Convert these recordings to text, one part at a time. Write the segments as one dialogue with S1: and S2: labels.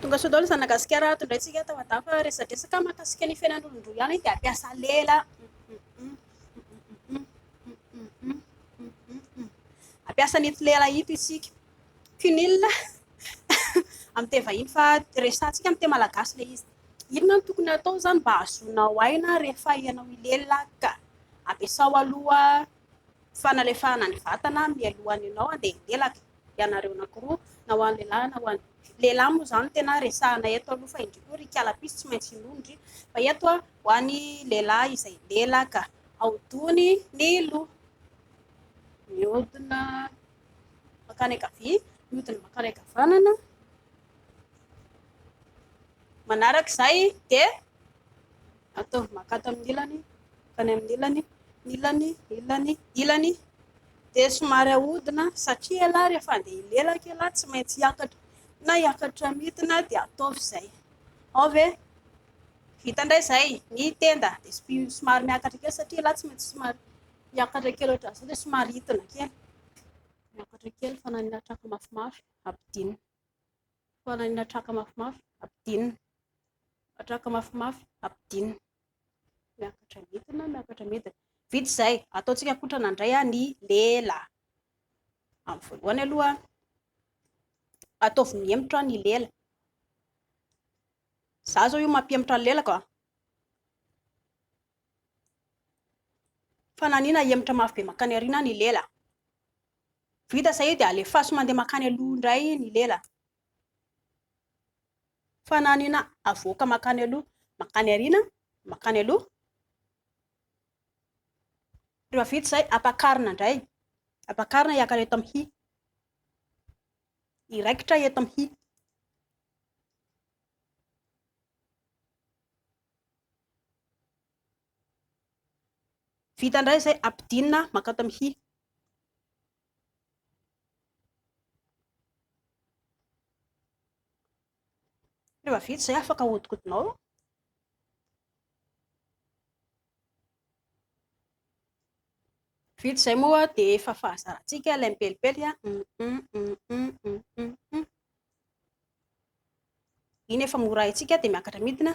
S1: Tonga soa daholo zanaka gasikara ato indray tsika tao adafa fa resadresaka mahakasika ny fiainan'olondroa ihany dia ampiasa lela ampiasa an'ito lela ito isika cunil amin'ny teny vahiny fa resatsika amin'ny teny malagasy ilay izy inona no tokony atao izany mba hahazoanao aina rehefa ianao hilelaka ampiasao aloha Fanalefahana ny vatana mialohan'ny ianao handeha hitelaka, ianareo anankiroa, na ho an'ny lehilahy na ho an'ny lehilahy moa izany tena resahana eto aloha fa indry koa ry kalapisy tsy maintsy hinoa indry fa eto a ho an'ny lehilahy izay hilelaka, ahodiny ny loha, mihodina mankany ankavia, mihodina mankany ankavanana. Manaraka izay dia ataovy makato amin'ny ilany, mankany amin'ny ilany, ilany, ilany, ilany. Dia somary ahodina satria ialahy rehefa andeha hilelaka ialahy tsy maintsy hiakatra na hiakatra midina dia ataovy izay. Ao ve? Vita indray izay ny tenda dia somary miakatra kely satria ialahy tsy maintsy somary miakatra kely ohatran'izao dia somary hidina kely. Miakatra kely fanan'ny hatraka mafimafy, ampidinina. Fitohanan'ny hatraka mafimafy ampidinina. Hatraka mafimafy ampidinina. Miakatra midina, miakatra midina. Vita izay, ataontsika kotrana indray ny lela. Amin'ny voalohany aloha, ataovy mihemotra ny lela. Za zao io mampihemotra ny lelako. Fananina hemotra mafy be mankany aoriana ny lela. Vita izay io dia alefaso mandeha mankany aloha indray ny lela. Fananina avoaka mankany aloha, mankany aoriana, mankany aloha. Rehefa vita izay, ampakarina indray. Ampakarina hiakatra eto amin'ny hy. Hiraikitra eto amin'ny hy. Vita indray izay, ampidinina mankao tamin'ny hy. Rehefa vita izay, afaka ahodikodinao. Vita izay moa dia efa fahazarantsika ilay mipelipely. Iny efa mora haintsika dia miakatra midina.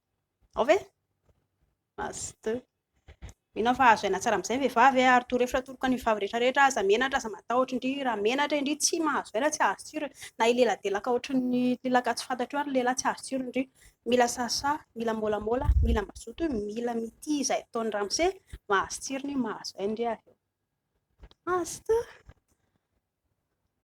S1: Ao ve? Maste. Mino aho fa azo aina tsara amin'izay ny vehivavy e, ary torohevitra atoroko an'ny vehivavy rehetra rehetra, aza menatra, aza matahotra indry, raha menatra indry tsy mahazo aina, tsy azo tsiro e, na hileladelaka ohatry ny lelaka tsy fantatro io ary ny lehilahy tsy azo tsiro indry, mila sasa, mila môlamôla, mila mazoto, mila mitia izay ataony ramose, mahazo tsirony, mahazo aina indry avy eo. Maste.